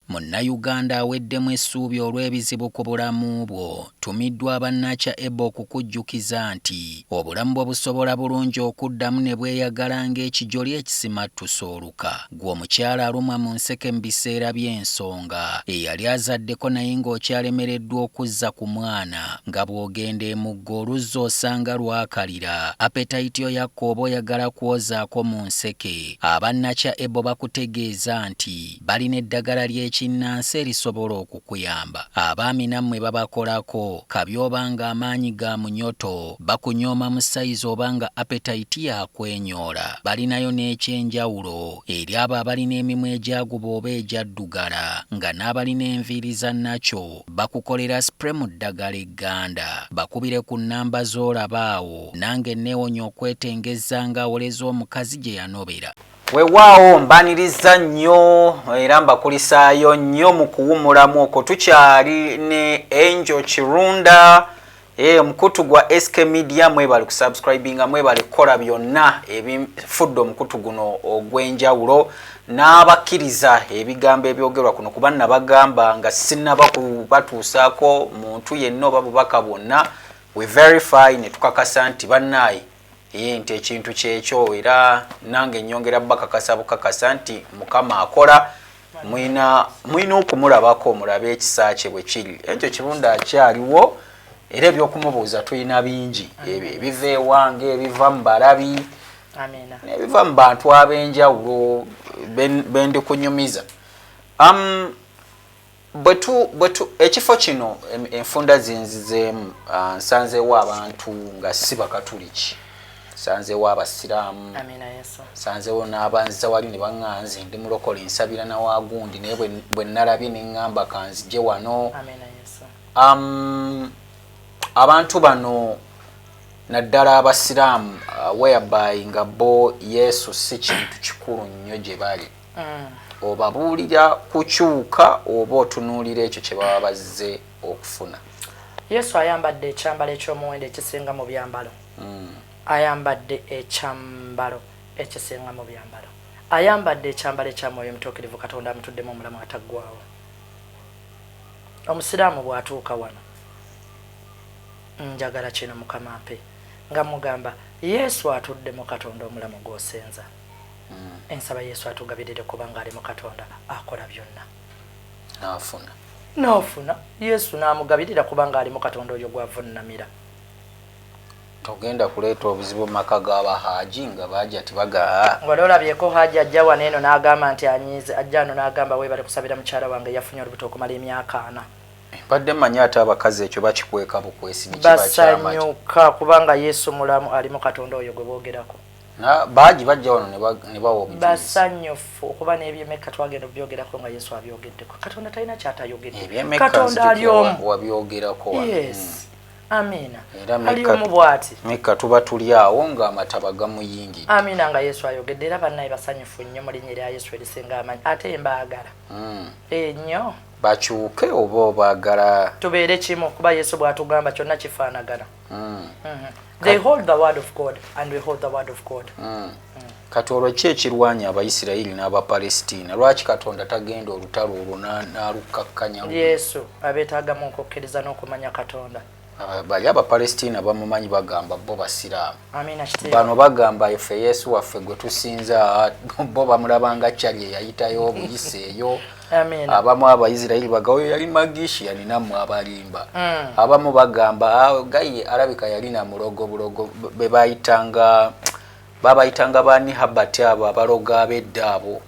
Munnayuganda aweddemu essuubi olw'ebizibu ku bulamu bwo tumiddwa abannakya eba okukujjukiza nti obulamu bwo busobola bulungi okuddamu ne bweyagala ng'ekijoli ekisimattuse oluka Gwe omukyala alumwa mu nseke mu biseera by'ensonga, eyali azaddeko naye ng'okyalemereddwa okuzza ku mwana nga bw'ogenda emugga oluzzi osanga lwakalira, apetayiti oyakka oba oyagala kwozaako mu nseke, aba Nakya Ebo bakutegeeza nti balina eddagala ly'ekinnansi erisobola oku. kuyamba abaami namwe babakolako kabi oba nga amaanyi ga munyoto bakunyooma mu sayizi oba nga appetite ya kwenyoola balinayo n'ekyenjawulo eri abo abalina emimwa egyaguba oba egyaddugala nga n'abalina enviiri za nacho bakukolera spray mu ddagala egganda bakubire ku nnamba z'olaba awo nange nneewonye okwetengezza nga awoleza omukazi gye yanobera. Wewaawo mbaniriza nnyo era mbakulisaayo nnyo mu kuwumulamu okwo tukyali ne Angel Kirunda eh, omukutu e, gwa SK Media mwebale kusubscribinga mwebale kukola byonna ebifudde omukutu guno ogw'enjawulo n'abakkiriza ebigambo ebyogerwa kuno kuba nabagamba nga sinaba kubatuusaako muntu yenna oba bubaka bwonna we verify ne tukakasa nti bannaayi Yee nti ekintu kyekyo era nange nyongera bakakasa bukakasa nti mukama akola mulina okumulabako mulabe ekisa kye bwekiri ekyo kirunda akyaliwo era ebyokumubuuza tulina bingi ebyo ebiva ewange ebiva mu balabi nebiva mu bantu ab'enjawulo bendi kunyumiza um, Ekifo kino enfunda zinzizeemu ah, nsanzeewo abantu nga si bakatuliki nsanzeewo abasiraamu nsanzeewo n'abanziza wali ne baŋŋaa nze ndi mulokole nsabira na waagundi naye bwe nnalabye ne ŋŋamba kanzije wano abantu bano naddala abasiraamu ah, whereby nga bo yesu si kintu kikulu nnyo gye bali mm. obabuulira kukyuka oba otunuulira ekyo kye baba bazze okufuna yesu ayambadde ekyambalo eky'omuwendo ekisinga mu byambalo mm. ayambadde ekyambalo ekisinga mu byambalo ayambadde ekyambalo ekya mwoyo omutuukirivu katonda amutuddemu omulamu ataggwawo omusiraamu bw'atuuka wano njagala kino mukama mpe nga mugamba yesu atudde mu katonda omulamu gwosenza mm. ensaba yesu atugabirire kubanga ali mu katonda akola byonna nafuna nafuna yesu namugabirira kubanga ali mu katonda oyo gwavunnamira togenda kuleeta obuzibu mumaka gaba haji nga baja tibagaa wali olabyeko haji ajja wano eno nagamba nti anyize ajja ano nagamba webale kusabira mukyala wange yafunye olubuto okumala emyaka ana mbadde manyi ate abakazi ekyo bakikweka bukwesi basanyuka kubanga yesu mulamu alimu katonda oyo gwe bogerako baagi bajja wano ne bawa obujulizi basanyufu okuba n'ebyemekka twagenda okubyogerako nga yesu abyogeddeko katonda talina kyatayogedde katonda ali omu wabyogerako yes hmm. amiina ali omu bwati mekka tuba tuli awo ng'amataba gamuyingidde amiina nga yesu ayogedde era bannaye basanyufu nnyo mu linnya erya yesu erisinga amanyi ate mbaagala hmm. enyo eh, bakyuke oba obaagala tubeere kimu kuba yesu bw'atugamba kyonna kifaanagana mm. mm-hmm. they hold the word of god and we hold the word of god mm. mm. kati olwo ki ekirwanya abaisirairi n'abapalestina lwaki katonda tagenda olutalo olwo n'alukkakkanya yesu abeetagamu okukkiriza n'okumanya katonda ah, bali abapalestina bamumanyi bagamba bo basiraamu bano bagamba efe yesu waffe gwe tusinza ah, bo bamulabanga cali eyayitayo obuyise eyo abamu abaisirairi bagaoyo yali magishi yalinamu abalimba mm. abamu bagamba ah, gaye alabika yalina mulogo bulogo bebayitanga babayitanga bani habat abo abaloga abedda abo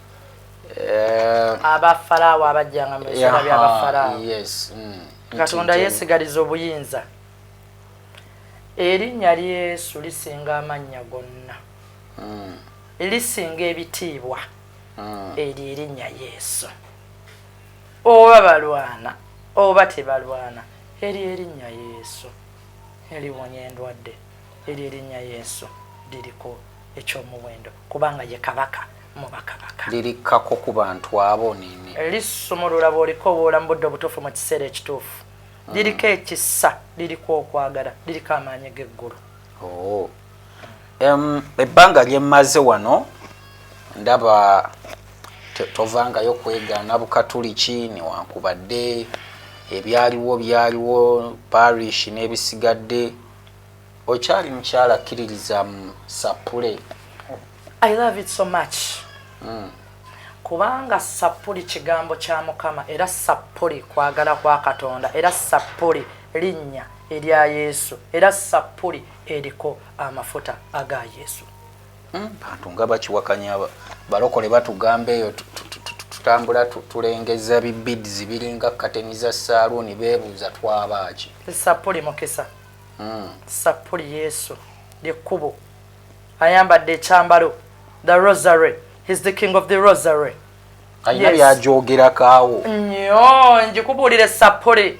eh, abafarawo abajjanga mubisera byabafarawo mm. katonda yesigaliza obuyinza erinnya lyesu lisinga amannya gonna mm. lisinga ebitiibwa ah. eryo erinnya yesu oba balwana oba tebalwana eryo erinnya yesu eliwonya endwadde eryo erinnya yesu liriko ekyomuwendo kubanga ye kabaka mubakabaka lirikkako ku bantu abo nini lisumulula bwoliko obwola mu budde obutuufu mu kiseera ekituufu ah. liriko ekisa liriko okwagala liriko amaanyi g'eggulu oh. ebbanga lyemmaze wano ndaba tovangayo kwegaana bukatuliki newankubadde ebyaliwo byaliwo parish n'ebisigadde okyali mukyala akkiririza mu sappule i love it so much mm. kubanga sappuli kigambo kya mukama era sappuli kwagala kwa katonda era sappuli linnya erya yesu era sappuli eriko amafuta aga yesu hmm, bantu nga bakiwakanya balokole batugamba eyo tutambula tulengeza bibids biringa kateni za saaluuni beebuuza twabaaki sapuli mukisa hmm. sapuli yesu lyekkubo ayambadde ekyambalo the rosary his the king of the rosary alina byagyogerakaawo nyo njikubuulire sapuli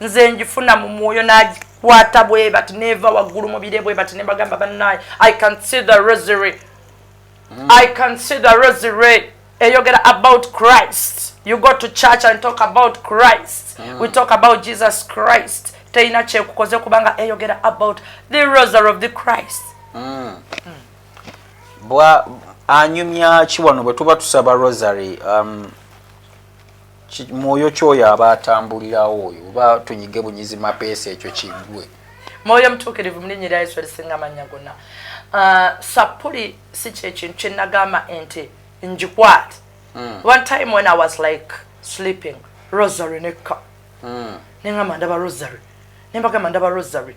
nze njifuna mu mwoyo nagikwata bwe bati neeva waggulu mubire bwe bati nebagamba bannaye i can see the rosary mm. i can see the rosary eyogera about christ you go to church and talk about christ mm. we talk about jesus christ teyina kyekukoze kubanga eyogera about the rosary of the christ mm. Mm. bwa anyumya ki wano bwe tuba tusaba rosary um, mwoyo kyoyo aba atambulirawo oyo oba tunyige bunyizi mapeesa ekyo kigwe mwoyo mutuukirivu mulinnya erya yesu erisinga amannya gonna uh, sappuli si kyekintu kyenagamba ente njikwate hmm. one time when i was like sleeping rosary nekka hmm. nengamba ndaba rosary nembagamba ndaba rosary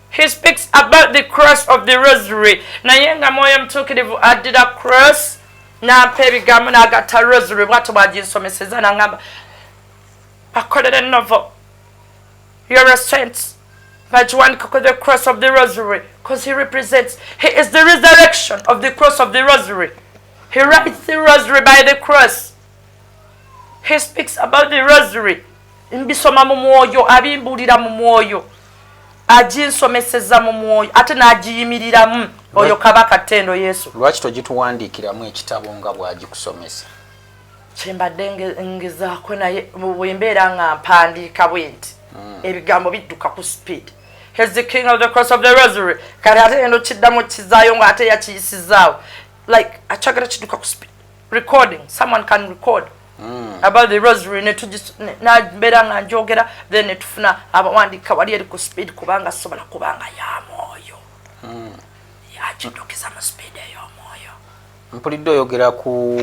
he speaks about the cross of the rosary naye nga mwoyo mutuukirivu addira cross nampa ebigambo nagatta rosary bwatyo bwaginsomeseza nangamba bakolere novel you're a saint bagiwandika ku the cross of the rosary because he represents he is the resurrection of the cross of the rosary he writes the rosary by the cross he speaks about the rosary mbisoma mu mwoyo abimbuulira mu mwoyo aginsomeseza mu mwoyo ate n'agiyimiriramu oyo kabaka ttendo yesu lwaki togituwandiikiramu ekitabo nga bwagikusomesa kyembadde ngezaako naye bwembeera nga mpandiika bwe nti hmm. ebigambo bidduka ku speed has the king of the cross of the rosary kati ate eno kiddamu kizaayo nga ate yakiyisizaawo like akyagala kiduka ku speed recording someone can record mm. about the rosary ne tujis na bera nga njogera then ne tufuna abawandika wali eri ku speed kubanga sobola kubanga ya moyo mm. ya chindokiza mu speed ya moyo mpulidde oyogera ku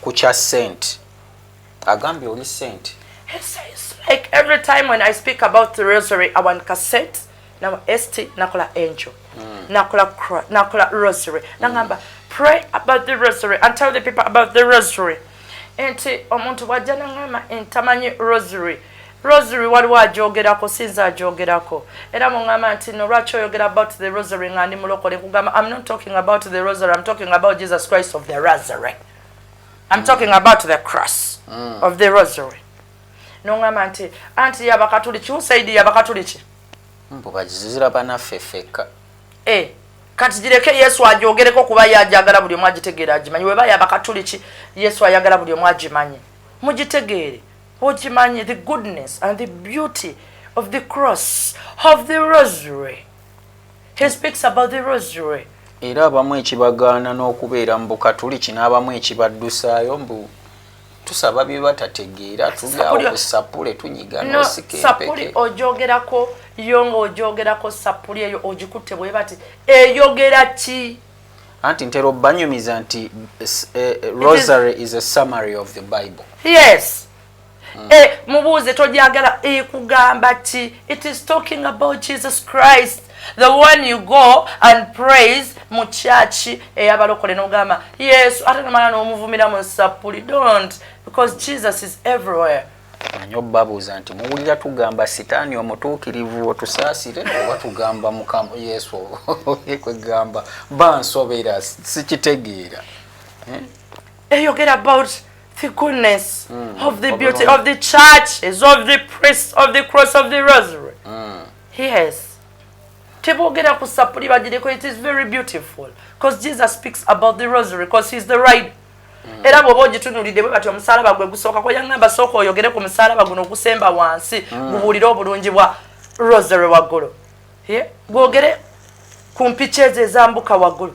ku cha saint agambye oli sente like every time when i speak about the rosary i want cassette na st nakola angel mm. nakola nakola rosary mm. nangamba pray about the rosary and tell the people about the rosary enti omuntu wajja nangamba entamanyi rosary rosary waliwo ajogerako sinza ajogerako era mungamba nti no lwaki oyogera about the rosary nga ndi mulokole nkugamba i'm not talking about the rosary i'm talking about jesus christ of the rosary I'm talking about the cross mm. of the rosary. Nongamba nti anti ya bakatuliki usaidi ya bakatuliki. Mbu bajizira bana fefeka. Eh kati gireke Yesu ajogereko kuba yajagala buli omu agitegera agimanyi weba ya bakatuliki Yesu ayagala buli omu agimanyi. Mugitegere. Ogimanyi the goodness and the beauty of the cross of the rosary. He speaks about the rosary. Era abamu ekibagaana n'okubeera mu Bukatuliki n'abamu ekibaddusaayo mbu tusaba bye batategeera tuli awo ku sapule tunyiga n'osika sapuli ogyogerako yo ng'ogyogerako sapuli eyo ogikutte bwe bati eyogera ki anti ntera obanyumiza nti eh, eh, rosary is a summary of the bible yes mm. eh, mubuuze togyagala ekugamba eh, ti it is talking about jesus christ the one you go and praise mu kyaki eyabalokole eh, nogamba yesu ate nomala nomuvumira mu nsapuli don't because jesus is everywhere manyi obabuuza nti muwulira tugamba sitaani omutuukirivu otusaasire oba tugamba mukama yesu kwegamba bansobera sikitegeera eh? eyogera about the goodness mm. of the beauty of the churches of the priest of the cross of the rosary mm. yes tebogera ku sapuli bagireko it is very beautiful because jesus speaks about the rosary because he's the right mm. era bwoba ogitunulidde bwe bati omusalaba gwe gusooka kwe yangamba sooka oyogere ku musalaba guno ogusemba wansi mm. gubuulire obulungi bwa rosary waggulu gwogere ku mpiki ezo ezambuka waggulu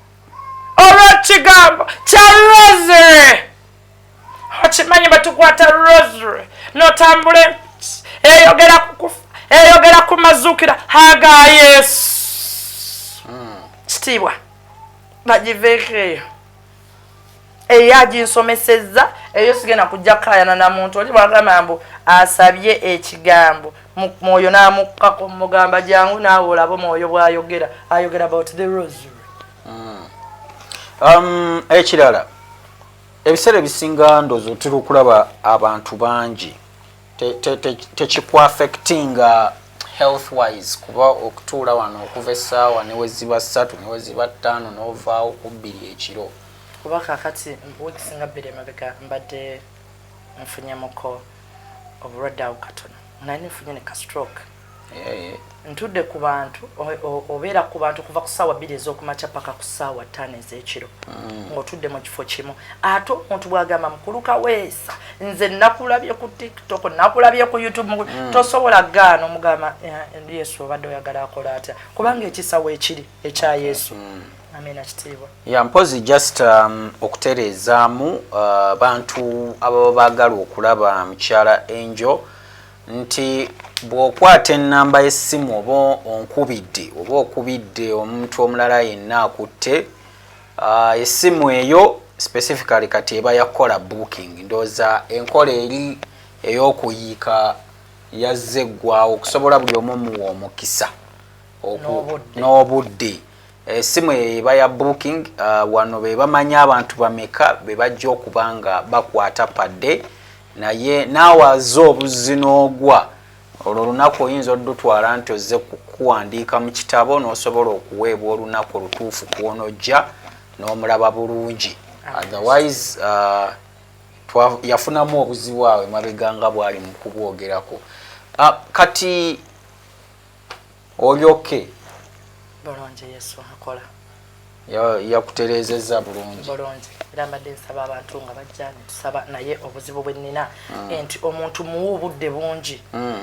olw'ekigambo kya rosary okimanyi batukwata rosary notambula eyogera kukufa eyogera ku mazukira haga yesu hmm. kitiibwa bagiveeko eyo eyo aginsomesezza eyo sigenda kujja kukayana na muntu oli bwagamba mbu asabye ekigambo mwoyo n'amukkako mugamba jangu naawe olaba omwoyo bwayogera ayogera about the rosary hmm. um, ekirala ebiseera ebisinga ndozo tuli okulaba abantu bangi tekikwafectinga health wise kuba okutuula wano okuva essaawa neweziba ssatu neweziba ttaano n'ovaawo ku bbiri ekiro kuba kakati weeks nga bbiri emabega mbadde nfunyemuko obulwadde awo katono nali nfunye ne kastroke eh. ntudde ku bantu obeera ku bantu kuva ku saawa bbiri ez'okumakya paka ku saawa ttaano ez'ekiro mm. ng'otudde mu kifo kimu ate omuntu bwagamba mukulu kaweesa nze nakulabye ku tiktok nakulabye ku youtube mm. tosobola gaana omugamba eh, yesu obadde oyagala akola atya kubanga ekisawo ekiri ekya yesu mm. ya mpozi just um, okutereezaamu uh, bantu ababa baagala okulaba mukyala enjo nti bw'okwata ennamba y'essimu oba onkubidde oba okubidde omuntu omulala yenna akutte uh, essimu eyo specifically kati eba yakukola booking ndooza enkola eri ey'okuyiika yazze eggwawo okusobola buli omu omuwa omukisa n'obudde Esimu eh, eyo eba ya booking uh, wano be bamanya abantu bameka be bajja okuba nga bakwata padde naye naawe aze obuzzi n'ogwa olwo olunaku oyinza olutwala nti ozze kuwandiika mu kitabo n'osobola okuweebwa olunaku olutuufu kwonojja n'omulaba bulungi otherwise uh, yafunamu obuzibu awe mabega nga bwali mu kubwogerako uh, kati olyoke bulungi yesu akola yakutereezezza bulungi bulungi era mbadde nsaba abantu nga bajja netusaba naye obuzibu bwe nnina mm. nti omuntu muwa obudde bungi mm,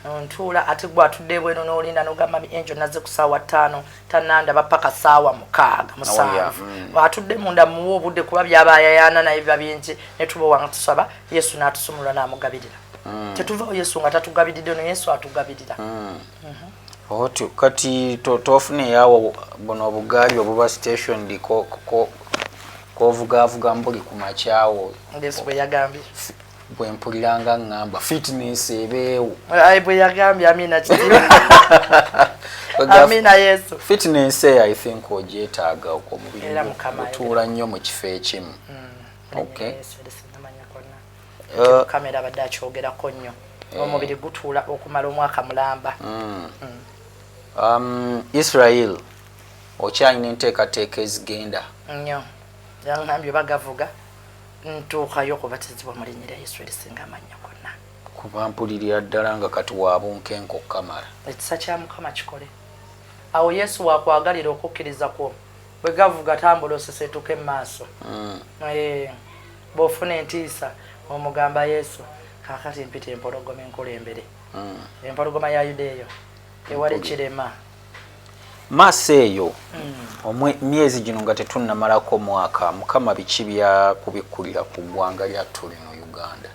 mm. ntuula ate gwe atudde ebweno n'olinda nogamba mi enjo nazze ku saawa ttaano tanandaba paka saawa mukaaga musanvu mm. atudde munda muwa obudde kuba byaba ayayaana naye biba bingi netubawa nga tusaba yesu n'atusumulula n'amugabirira mm. tetuvawo yesu nga tatugabiridde no yesu atugabirira mm. mhm. otyo kati tofuna eyawo buno obugaali obuba station diko kovugavuga mbuli ku makyawo yesu bwe yagambye bwe mpulira nga ŋŋamba fitness ebeewo bwe yagambye amina kitiba amina yesu fitness eyo i think ogyetaaga omubiri gutuula nnyo mu kifo ekimu mm, okay uh, kamera abadde akyogerako nnyo eh. omubiri gutuula okumala omwaka mulamba mm. Mm. Um, israel okyalina enteekateeka ezigenda nnyo yangambye bagavuga ntuukayo okubatizibwa mu linnya lya yesu erisinga amannya gonna kuba mpulirira ddala nga kati wabunkenka okukamala ekisa kya mukama kikole awo yesu wakwagalira okukkiriza kwo bwe gavuga tambula osesetuke mu maaso mm. eh, bw'ofuna entiisa omugamba yesu kakati mpita empologoma enkulembere mm. empologoma ya yuda eyo ewali kirema maaso eyo hmm. myezi gino nga tetunnamalako mwaka mukama biki byakubikkulira ku ggwanga lyattu lino uganda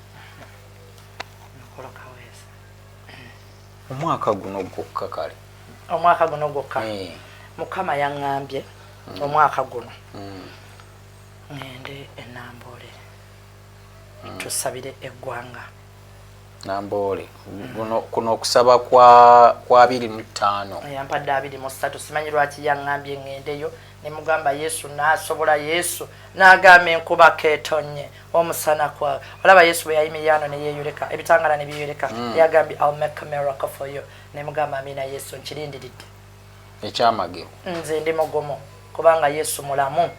omwaka guno gwokka kale omwaka guno gwokka eh. mukama yaŋŋambye hmm. omwaka guno hmm. ŋŋende enamboole tusabire eggwanga Namboole guno kuno okusaba kwa kwa 25 yampadde 23 simanyi lwaki yangambye ngendeyo ne mugamba Yesu nasobola Yesu nagamba enkuba ketonye omusana kwa olaba Yesu bwe yayimiyano ne yeyoleka ebitangala ne biyoleka mm. yagambye I'll make a miracle for you ne mugamba amina Yesu nkirindiridde ekyamagero nze ndi mugumu kubanga Yesu mulamu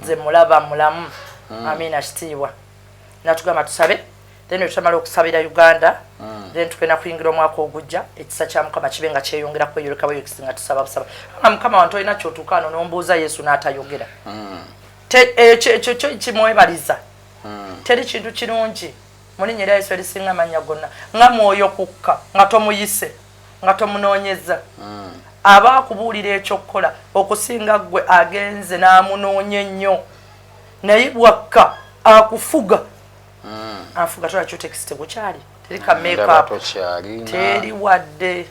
nze mulaba mulamu mm. amina kitiibwa natugamba tusabe then etutamala okusabira uganda mm. then tugenda kuyingira omwaka ogujja ekisa kya mukama kibe nga kyeyongera kweyoleka bweyokisi nga tusaba busaba nga mukama wantu olina kyotuukaano nombuuza yesu n'atayogera mm. ekyo eh, kyo kimwebaliza mm. teri kintu kirungi mulinya era yesu erisinga amanya gonna nga mwoyo kukka nga tomuyise nga tomunoonyeza mm. aba akubuulira ekyokukola okusinga ggwe agenze n'amunoonya ennyo naye bwakka akufuga mm. afuga tola cutex tegukyali teri ka mm, makeup teri wadde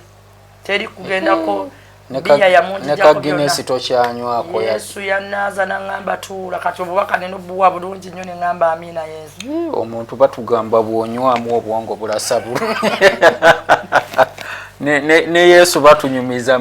teri kugendako biya yamunjijako tokyanywako yesu yanaaza naŋamba tuula kati obubaka neno buwa bulungi nnyo neŋamba amiina yesu eh, omuntu batugamba bwonywamu obwongo bulasa bulu ne yesu batunyumiza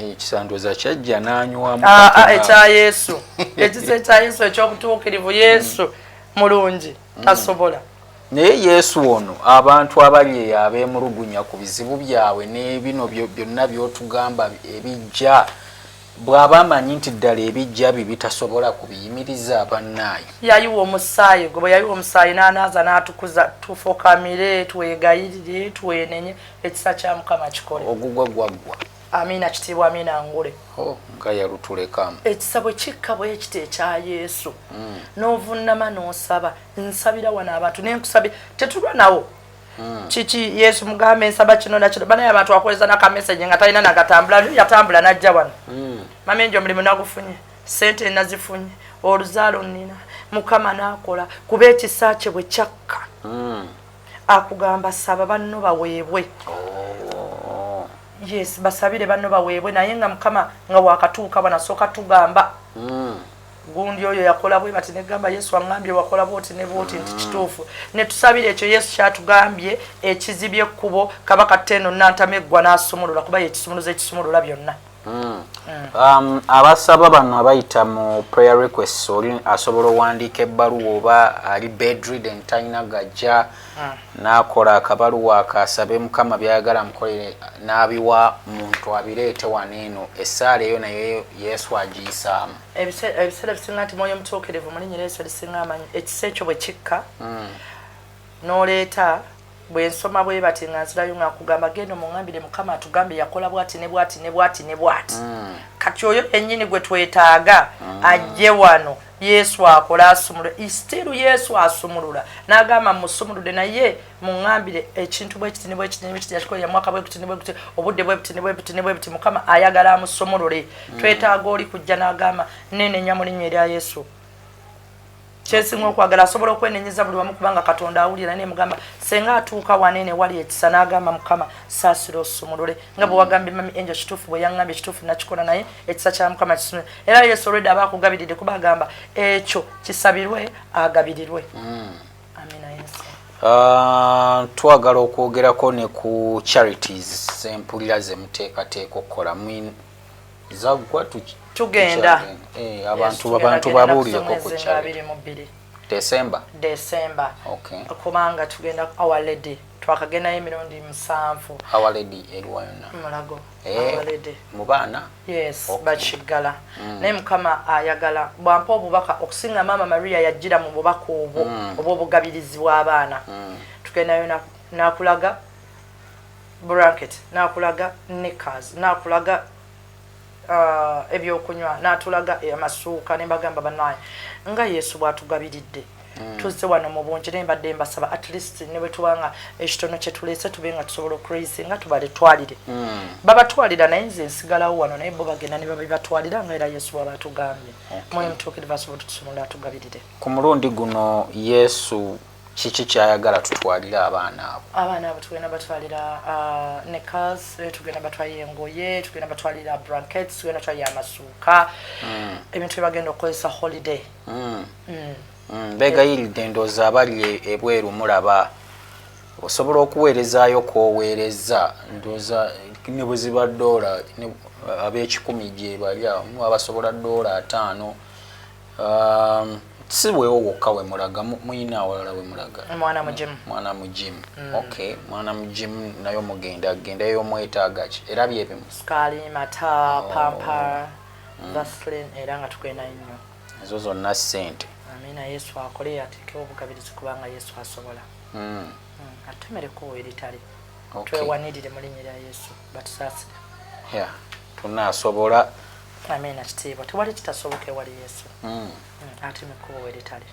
ekisanduza kyajja n'anywamu ah, ah, ekya yesu ekisa ekya yesu ekyobutuukirivu yesu mulungi mm. tasobola naye yesu ono abantu abali eyo abeemulugunya ku bizibu byabwe n'ebino byonna byotugamba ebijja bw'aba amanyi nti ddala ebijja bye bitasobola ku biyimiriza abannaayo yayiwa omusaayi gwe bwe yayiwa omusaayi n'anaaza n'atukuza tufukamire twegayirire twenenye ekisa kya mukama kikole ogugwa gwaggwa amiina kitiibwa amiina ngule oh, nga yalutulekamu ekisa bwe kikka bwe ekita ekya yesu mm. n'ovunnama n'osaba nsabira wano abantu naye nkusabi tetulwa nawo mm. kiki yesu mugambe nsaba kino nakino banaye abantu akoleza nakameseji nga talina nagatambula lyo yatambula najja wano mm. mama enjo omulimu nagufunye sente nazifunye oluzaalo nnina mukama n'akola kuba ekisa kye bwe kyakka mm. akugamba saba banno baweebwe oh. yes basabire banno baweebwe naye nga mukama nga wakatuuka banasooka tugamba hmm. gundi oyo yakola bwe bati negamba yesu aŋambye wakola bwoti ne bwoti nti hmm. kituufu netusabira ekyo yesu kyatugambye ekizibye ekkubo kabaka teno nantama eggwa n'asumulula kuba yekisumuluza ekisumulula byonna Hmm. Um, abasaba bano abayita mu prayer requests oli asobola owandiika ebbaluwa oba ali bedridden talina gajja hmm. nakola akabaluwa akasabe mukama byayagala mukolere n'abiwa muntu abireete wano eno essaala eyo naye yesu agiyisaamu ebiseera bisinga nti mwoyo omutuukirivu mulinyira eso lisinga amanyi ekisa ekyo bwe kikka hmm. n'oleeta bwensoma bwebati nga nzirayo nga nkugamba genda omungambire mukama atugambye yakola bwati ne bwati ne bwati ne bwati mm. kati oyo enyini gwe twetaaga mm. ajje wano yesu akola asumula istiru yesu asumulula nagamba musumulude naye mungambire ekintu bwekiti ne bwekiti ne bwekiti yakikola yamwaka bwekiti ne bwekiti obudde bwebiti ne bwebiti ne bwebiti mukama ayagala amusumulule mm. twetaaga oli kujja nagamba nenenya mu linnya erya yesu kyesinga okwagala asobola okwenenyeza buli wamu kubanga katonda awulira naye mugamba senga atuuka wanene wali ekisa n'agamba mukama saasira osumulule nga bwe wagambye mami enjo kituufu bwe yangambye kituufu nakikola naye ekisa kya mukama kisumule era yesu olwedde aba akugabiridde kuba agamba ekyo kisabirwe agabirirwe hmm. amina yesu ah, twagala okwogerako ne ku charities zempulira zemuteekateeka okukola zagwa tugenda eh, abantu abantu babuulireko ku kyabiri mu bbiri desemba desemba okay. kubanga tugenda our lady twakagendayo emirundi musanvu our lady eriwa yonna mulago eh, our lady mu baana yes okay. bakiggala mm. naye mukama ayagala bwampa obubaka okusinga maama maria yajjira mu bubaka obwo mm. obw'obugabirizi bw'abaana mm. tugendayo nakulaga na bracket nakulaga knickers nakulaga uh, ebyokunywa natulaga amasuuka nembagamba banaye nga yesu bwatugabiridde mm. tuzze wano mu bungi naye mbadde mbasaba at least ne bwe tuba nga ekitono kye tuleese tube nga tusobola okuraisinga nga tubaletwalire mm. babatwalira naye nze nsigalawo wano naye bo bagenda ne babibatwalira nga era yesu bwaba atugambye okay. mwoyo mutuukirivu asobola otutusumula atugabirire ku mulundi guno yesu kiki kyayagala tutwalire abaana abo abaana abo tugenda batwalira uh, necas eh, tugenda batwalira engoye tugenda batwalira brankets tugenda batwalira amasuuka mm. ebintu byebagenda okukozesa holiday mm. Mm. Mm. begayiridde endoozi abali e, ebweru mulaba osobola okuweerezaayo kwoweereza ndooza ne bwe ziba doola ab'ekikumi gye bali abasobola doola ataano Um, si wewo wokka wemulaga muyina awalala wemulaga mwana mugimu mwana mugimu mm. ok mwana mugimu nayo mugenda genda eyo mwetagaki era byebimu skaali mata oh. pampa mm. vaslin era nga tukwenda nnyo ezo zonna sente amina yesu akole yateke obugabirizi kubanga yesu asobola mm. mm. atumereko eritali okay. twewanirire mu linnya lya yesu batusaasire ya tunaasobola amiina kitiibwa tewali kitasoboka ewali yesu mm. mm, ati mukkubo weritali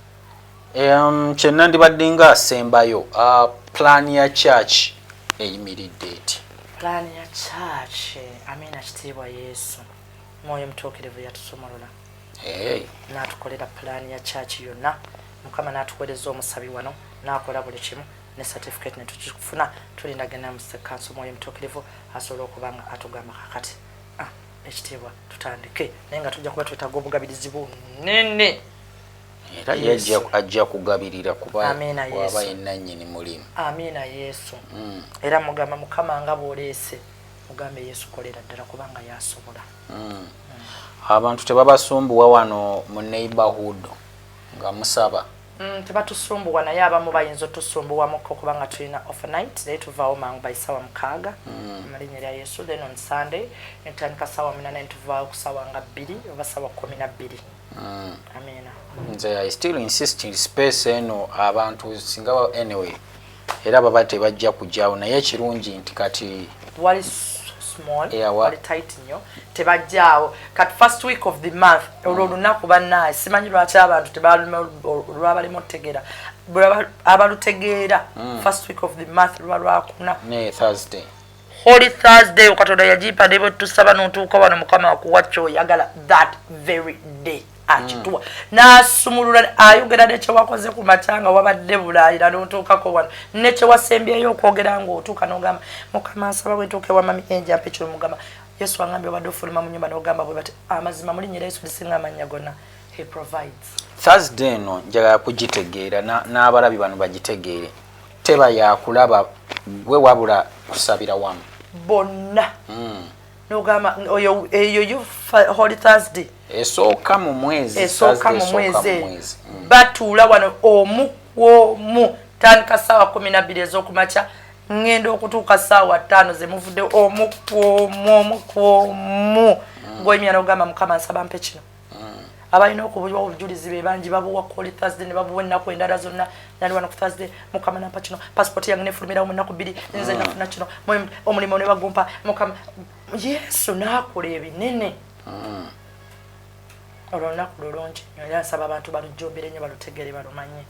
um, kyenandibadde nga asembayo uh, plan ya church eyimiridde eti plan ya church amiina kitiibwa yesu mwoyo mutuukirivu yatusumulula hey. natukolera plan ya church yonna mukama natuweereza omusabi wano nakola buli kimu ne certificate netukifuna tulinda genda mu kanso mwoyo mutukirivu asobola okuba nga atugamba kakati ah, ekitiibwa tutandike naye nga tujja kuba twetaaga obugabirizi bunene era ye ajja kugabirira kubawaba enanyini mulimu amiina yesu mm. era mugamba mukama nga bwoleese mugambe yesu kolera ddala kubanga yasobola mm. mm. abantu tebabasumbuwa wano mu neighborhood nga musaba Mm, tebatusumbuwa naye abamu bayinza otusumbuwamuko kubanga tulina overnight naye tuvaawo mangu by sawa mukaaga mm. mu linnya lya yesu then on sunday netutandika sawa munana netuvaawo ku sawa nga bbiri oba sawa kumi na bbiri mm. amina nze i still insisting space eno abantu singa anyway era baba tebajja kugyawo naye ekirungi nti kati wali small yeah, wali tight nyo tebajjaawo kati first week of the month mm. olwo olunaku bannaye simanyi lwaki abantu tebaluma olwabalema otutegeera abalutegeera mm. first week of the month luba lwakuna thursday Holy Thursday yo katonda yajipa ne bwe tusaba n'otuuka wano mukama akuwa kyoyagala that very day akituwa mm. n'asumulula ayogera ne kye wakoze ku makya nga wabadde bulaayira n'otuukako wano ne kye wasembyeyo okwogera ng'otuuka n'ogamba mukama nsaba bwetuuke wamami enjampa ekyo mugamba yesu angambi obadde ofuluma mu nyumba n'ogamba bwe bati amazima mulinyira yesu lisinga amannya gonna he provides thursday eno njagala kugitegeera n'abalabi bano bagitegeere teba yakulaba gwe wabula kusabira wamu bonna mm. nogamba oyo eyo you holy thursday esooka mu mwezi esooka mu mwezi mm. batuula wano omu kwomu tandika saawa kumi nabbiri ezokumakya ŋŋenda okutuuka saawa ttaano ze muvudde omu kwomu omu kwomu mm. ngoyimya nogamba mukama nsaba mpe kino abalina okubuliwa obujulizi be bangi babuwa kuli thursday ne babuwa ennaku endala zonna nali wano ku thursday mukama nampa kino pasipoti yange nefulumirawo mu nnaku bbiri nze nafuna kino omulimu ne bagumpa mukama yesu n'akola ebinene ah. olwo olunaku lulungi nyo era nsaba abantu balujjumbire nnyo balutegere balumanye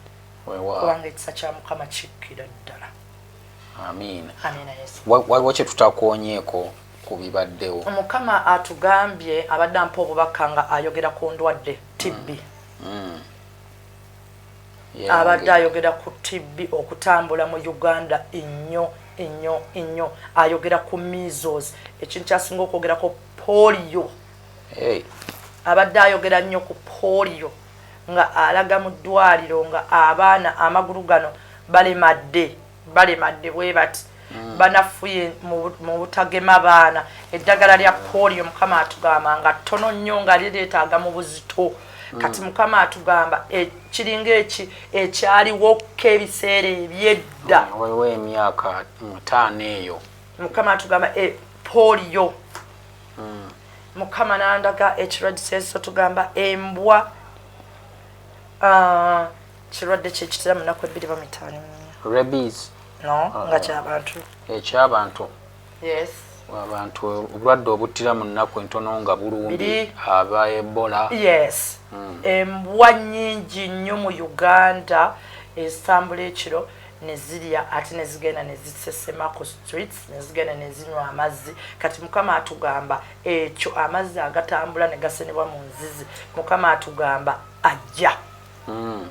kubanga ekisa kya mukama kikkira ddala amiina waliwo kye tutakonyeeko ku bibaddewo. Mukama atugambye abadde ampa obubaka nga ayogera ku ndwadde TB. Mm. Mm. Yeah, abadde okay. ayogera ku TB okutambula mu Uganda ennyo ennyo ennyo ayogera ku measles ekintu kyasinga okwogerako polio hey. abadde ayogera nnyo ku polio nga alaga mu ddwaliro nga abaana amagulu gano balemadde balemadde bwebati mm. banafuye mu butagema baana eddagala lya polio mukama atugamba nga ttono nnyo nga lireetaaga mu buzito mm. kati mukama atugamba e, kiringa eki ekyaliwokko ebiseera ebyedda mm, waliwo emyaka mutaano eyo mukama atugamba e, polio mukama nandaga ekirwadiseensi otugamba embwa uh, kirwadde kyekitera munaku ebbiri bamitaano rabies no ah. nga kyabantu ekyabantu yes abantu obulwadde obuttira mu nnaku entono nga bulumbi aba ebola yes hmm. embwa nyingi nnyo mu uganda ezitambula ekiro nezirya ate nezigenda nezisesema ku streets nezigenda nezinywa amazzi kati mukama atugamba ekyo amazzi agatambula negasenebwa mu nzizi mukama atugamba ajja mm.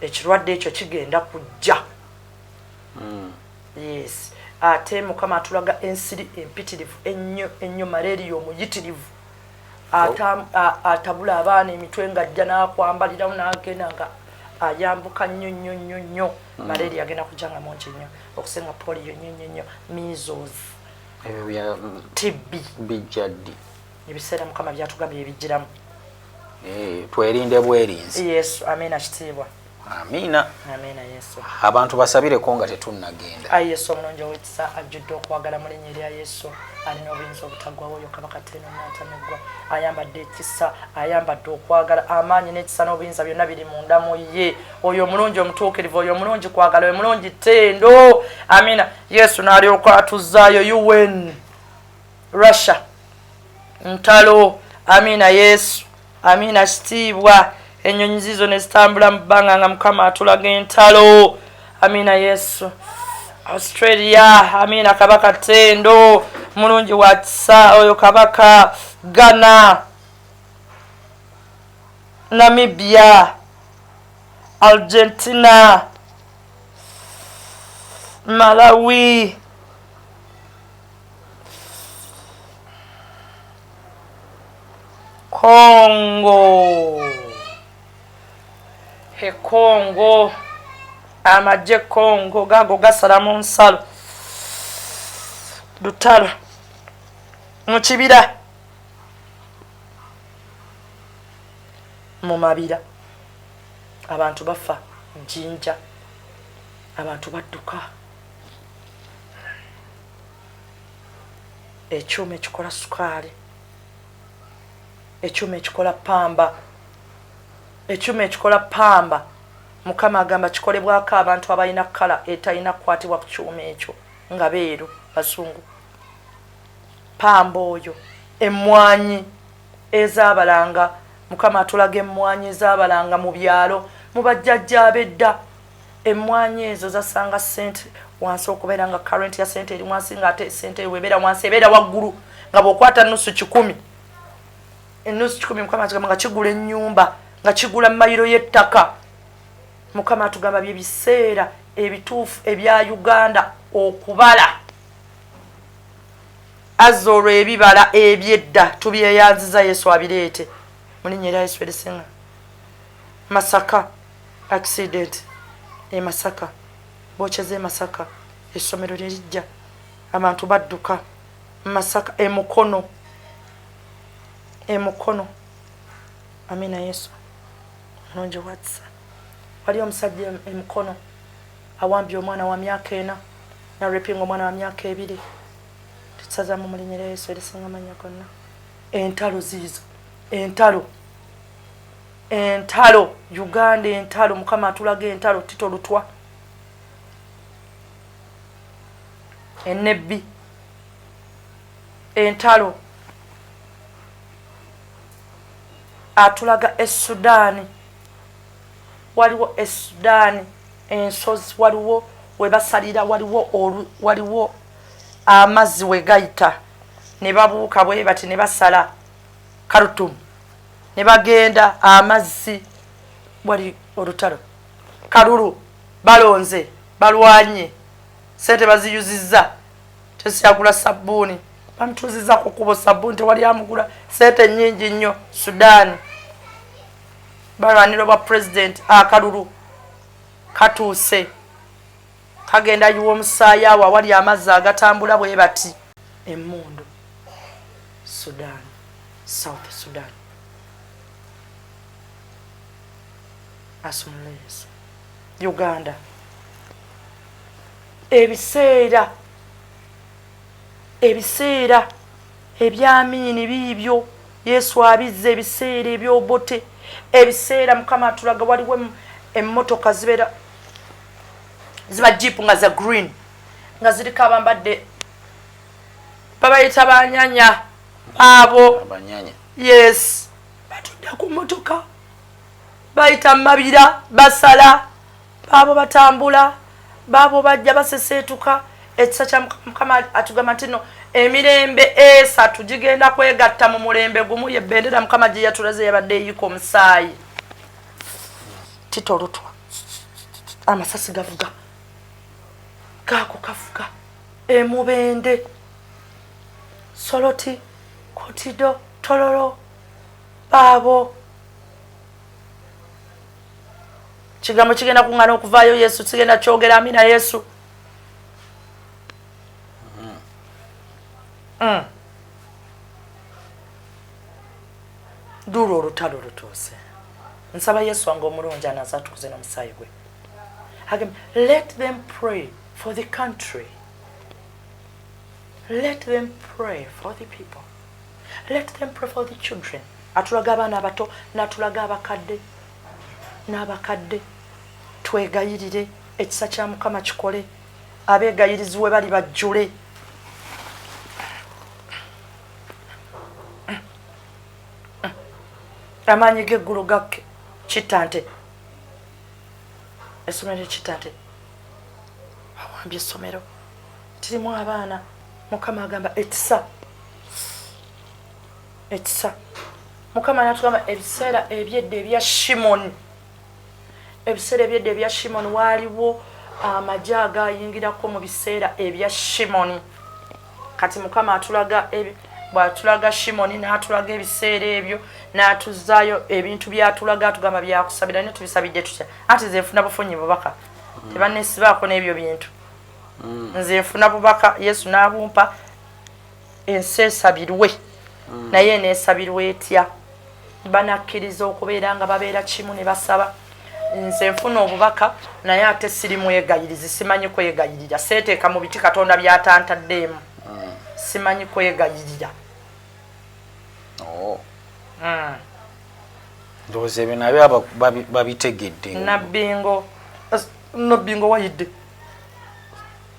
ekirwadde ekyo kigenda kujja mm. yes ate mukama atulaga ensiri empitirivu ennyo ennyo malaria omuyitirivu atabula abaana emitwe nga ajja n'akwambalirawo n'agenda nga ayambuka nnyo nnyo nnyo nnyo mm. malaria agenda kujja nga mungi nnyo okusinga poliyo nnyo nnyo nnyo measles tibbi bijjaddi ebiseera mukama byatugambye ebijjiramu Eh, twerinde bwerinzi yesu amina kitiibwa amina amina yesu abantu basabireko nga tetunnagenda ayi yesu omulungi owekisa ajjudde okwagala mu linnya erya yesu alina obuyinza obutaggwawo oyo kabaka teeno natameggwa ayambadde ekisa ayambadde okwagala amaanyi n'ekisa n'obuyinza byonna biri munda mu ye oyo omulungi omutuukirivu oyo omulungi kwagala oyo omulungi tendo amina yesu n'alyoka atuzzaayo un russia ntalo amiina yesu amiina kitiibwa enyonyi zizo nezitambula mu bbanga nga mukama atulaga entalo amiina yesu australia amiina kabaka tendo mulungi wakisa oyo kabaka ghana namibia argentina malawi kongo ekongo amagye kongo gago gasala mu nsalo lutalo mu kibira mu mabira abantu bafa jinja abantu badduka ekyuma ekikola sukaali ekyuma ekikola pamba ekyuma ekikola pamba mukama agamba kikolebwako abantu abalina kala etalina kukwatibwa ku kyuma ekyo nga beeru bazungu pamba oyo emmwanyi ezabalanga mukama atulaga emmwanyi ezabalanga mu byalo mu bajjajja abedda emmwanyi ezo zasanga sente wansi okubeera nga current ya sente eri wansi nga ate sente eyo webeera wansi ebeera waggulu nga bwokwata nusu kikumi enusu kikumi mukama atugamba nga kigula ennyumba nga kigula mayiro y'ettaka mukama atugamba bye biseera ebituufu ebya uganda okubala azza olwo ebibala ebyedda tubyeyanziza yesu abireete mulinya era yesu erisinga masaka Accident e Masaka, Bookya z'e Masaka essomero lye liggya abantu badduka Masaka e Mukono e Mukono Amina Yesu mulungi watsa wali omusajja e Mukono awambye omwana wa myaka ena na repinga omwana wa myaka ebiri tusazamu mu linnya lya Yesu erisinga amannya gonna entalo ziizo entalo entalo uganda entalo mukama atulaga entalo tito lutwa enebbi entalo atulaga esudaani waliwo esudaani ensozi waliwo webasalira waliwo waliwo amazzi wegayita ne babuuka bwe bati ne basala karutumu ne bagenda amazzi wali olutalo kalulu balonze balwanye sente baziyuzizza tesyagula sabbuuni bamutuuzizza ku kubo sabbuuni tewali amugula sente nyingi nnyo sudaani balwanira obwa pulezidenti akalulu katuuse Kagenda yiwa omusaayi awo awali amazzi agatambula bwe bati. Emmundu Sudan, South Sudan. Asumula Yesu. Uganda. Ebiseera ebiseera ebyamiini biibyo yesu abizza ebiseera ebyobote ebiseera mukama atulaga waliwo emmotoka zibeera ziba jeep nga za green nga ziriko abambadde babayita banyanya baabo yes batudde ku motoka bayita mabira basala baabo batambula baabo bajja baseseetuka ekisa kya mukama atugamba nti no emirembe esatu gigenda kwegatta mu mulembe gumu ye bendera mukama gye yatulaze yabadde eyika omusaayi tito lutwa amasasi gavuga gaako kavuga emubende soloti kotido tololo baabo kigambo kigenda kuŋŋana okuvaayo yesu kigenda kyogera amina yesu mm. Mm. duula olutalo lutuuse nsaba yesu wange omulungi anaza atukuze nomusaayi gwe let them pray for the country let them pray for the people let them pray for the children atulaga abaana abato natulaga abakadde n'abakadde twegayirire ekisa kya mukama kikole abeegayiriziwe bali bajjule amaanyi g'eggulu gakke kitta nte essomero ekitta nte awambye essomero tirimu abaana mukama agamba ekisa ekisa mukama natugamba ebiseera ebyedda ebya shimoni ebiseera ebyedda ebya shimoni waaliwo amagye agayingirako mu biseera ebya shimoni kati mukama atulaga bwatulaga shimoni n'atulaga ebiseera ebyo n'atuzaayo ebintu byatulaga atugamba byakusabira naye tubisabidde tutya anti nze nfuna bufunyi bubaka mm. tebanesibaako n'ebyo bintu mm. nze nfuna bubaka yesu n'abumpa ensi esabirwe hmm. naye eneesabirwa etya banakkiriza okubeera nga babeera kimu ne basaba nze nfuna obubaka naye ate siri mwegayirizi simanyi kwegayirira seeteeka mu biti katonda byatantaddeemu hmm. simanyi kwegayirira oh. hmm. ndowooza ebyo nabyo babitegedde nabbingo nabbingo wayidde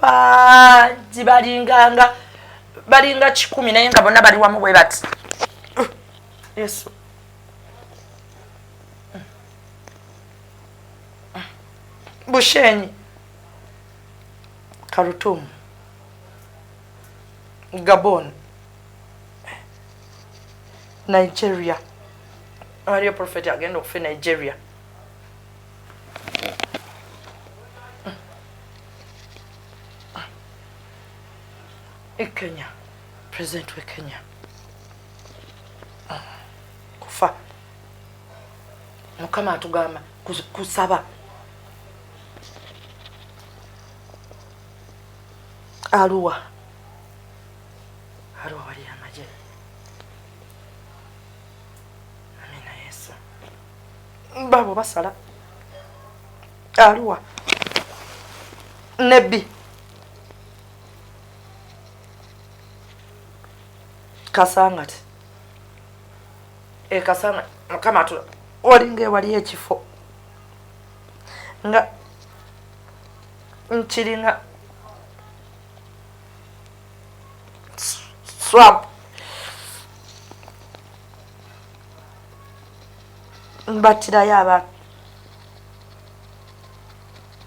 bangi balinganga balinga kikumi naye nga bonna bali wamu bwe bati yesu bushenyi karutumu gabon nigeria waliyo profeti agenda okufa e nigeria e kenya president we kenya ah, kufa mukama atugamba kusaba aluwa aluwa wali amaje baabo basala aluwa nebbi kasangati ekasanga eh, mukama tu olinga ewali ekifo nga nkiringa swamp mbattirayo abaana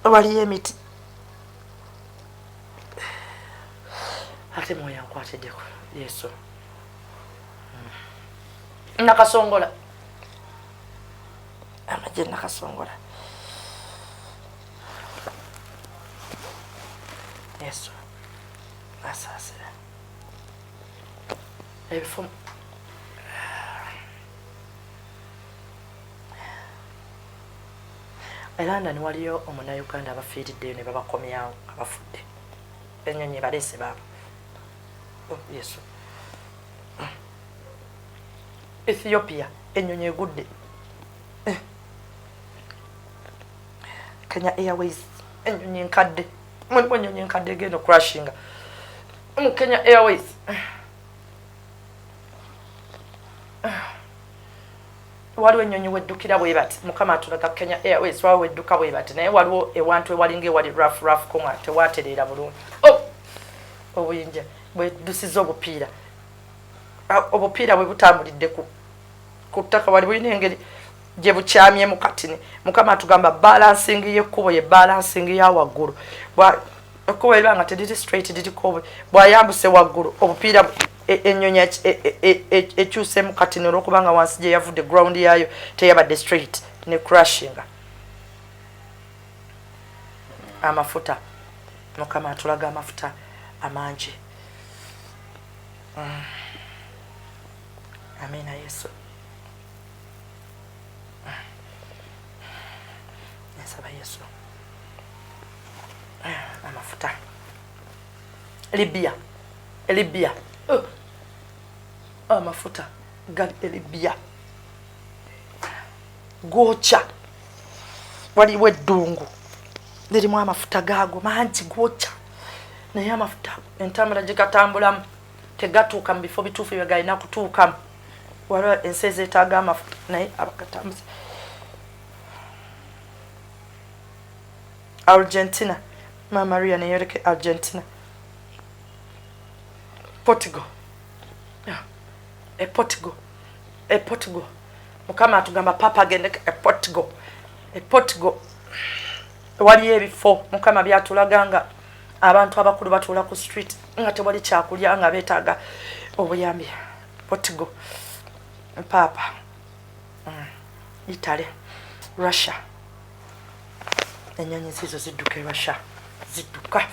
waliyo emiti ate mwoyo ankwatiddeko yesu nakasongola amagye nakasongola yesu asaasira ebifo e london waliyo omunauganda abafiiriddeyo ne babakomyawo abafudde enyonyi ebaleese baabo oh, yesu ethiopia enyonyi egudde eh. kenya airways enyonyi enkadde mulimu enyonyi enkadde egenda okurashinga mu Kenya Airways waliwo ennyonyi weddukira bwe bati mukama atulaga Kenya Airways waliwo wedduka bwe bati naye waliwo ewantu ewalinga ewali rough rough koma tewatereera bulungi oh! obuyinja bwedusiza obupiira ah, obupiira bwe butambulidde ku ku ttaka wali bulina engeri gye bukyamyemu katini mukama atugamba balansing y'ekkubo ye balansing ya waggulu ekkubo eriba nga teriri straight liriko bwayambuse waggulu obupiira e, enyonyi ekyusemu e, e, kati nolwokubanga wansi gyeyavudde ground yaayo teyabadde straight ne crushinga amafuta mukama atulaga amafuta amangi mm. amina yesu mm. nsaba yesu amafuta libya libya oh. amafuta gali libya gwokya waliwo eddungu lirimu amafuta gaago mangi gwokya naye amafuta entambula gyegatambulamu tegatuuka mu bifo bituufu byegalina kutuukamu waliwo ensi ezeetaaga amafuta naye abagatambuza Argentina maama Rian eyoleka e Argentina Portugal ah, e Portugal e Portugal mukama atugamba papa agende e Portugal e Portugal waliyo ebifo mukama byatulaga nga abantu abakulu batuula ku street nga tewali kyakulya nga beetaaga obuyambi Portugal papa mm. itale russia enyonyi zizo zidduka e russia zidduka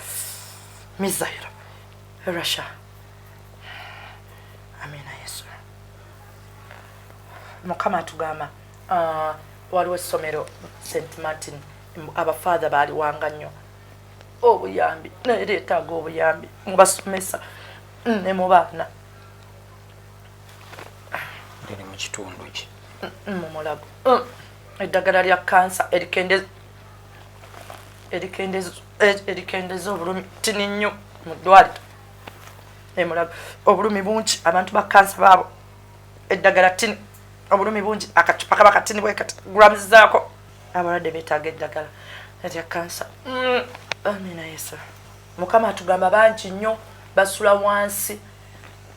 misairo e russia amina yesu mukama atugamba uh, waliwo essomero st martin abafaatha baaliwanga nnyo obuyambi naye leetaaga obuyambi mubasomesa ne mu baana liri mu kitundu ki mumulago mm, eddagala lya kansa erikendeza e, obulumi tini nnyo mu ddwaliro emulago obulumi bungi abantu ba kansa baabo eddagala tini obulumi bungi akacupa kaba katini bwekati grams zaako abalwadde betaaga eddagala erya kansa mm, amina yesu mukama atugamba bangi nnyo basula wansi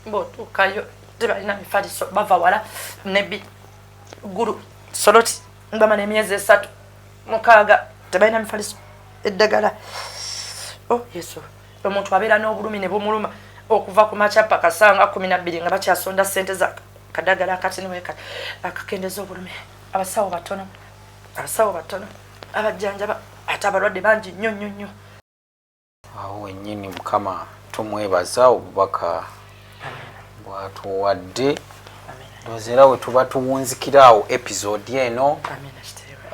bwotuukayo tebalina mifaliso bava wala nebi gulu soloti bamala emyezi esatu mukaaga tebalina mifaliso eddagala o oh, yesu omuntu abeera n'obulumi ne bumuluma okuva ku makya paka sanga kumi nabbiri nga bakyasonda sente za kadagala kati niweka akakendeza obulumi abasawo batono abasawo batono abajjanjaba ate abalwadde bangi nnyo nnyo nnyo awo wennyini mukama tumwebaza obubaka bwatuwadde ndowooza era we tuba tuwunzikira awo episode eno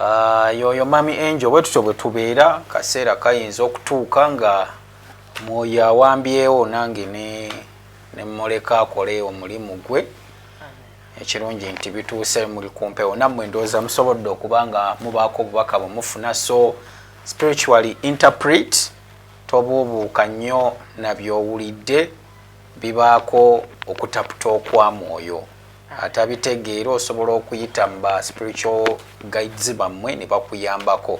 ah, yoyo mami angel bwe tutyo bwe tubeera kaseera kayinza okutuuka nga mwoyo awambyewo nange ne mmuleka akole omulimu gwe ekirungi nti bituuse muli kumpewo nammwe ndowooza musobodde okuba nga mubaako obubaka bwe mufuna so spiritually interpret tobuubuuka nnyo nabyowulidde bibaako okutaputa okwa mwoyo atabitegeera osobola okuyita mu ba spiritual guides bammwe ne bakuyambako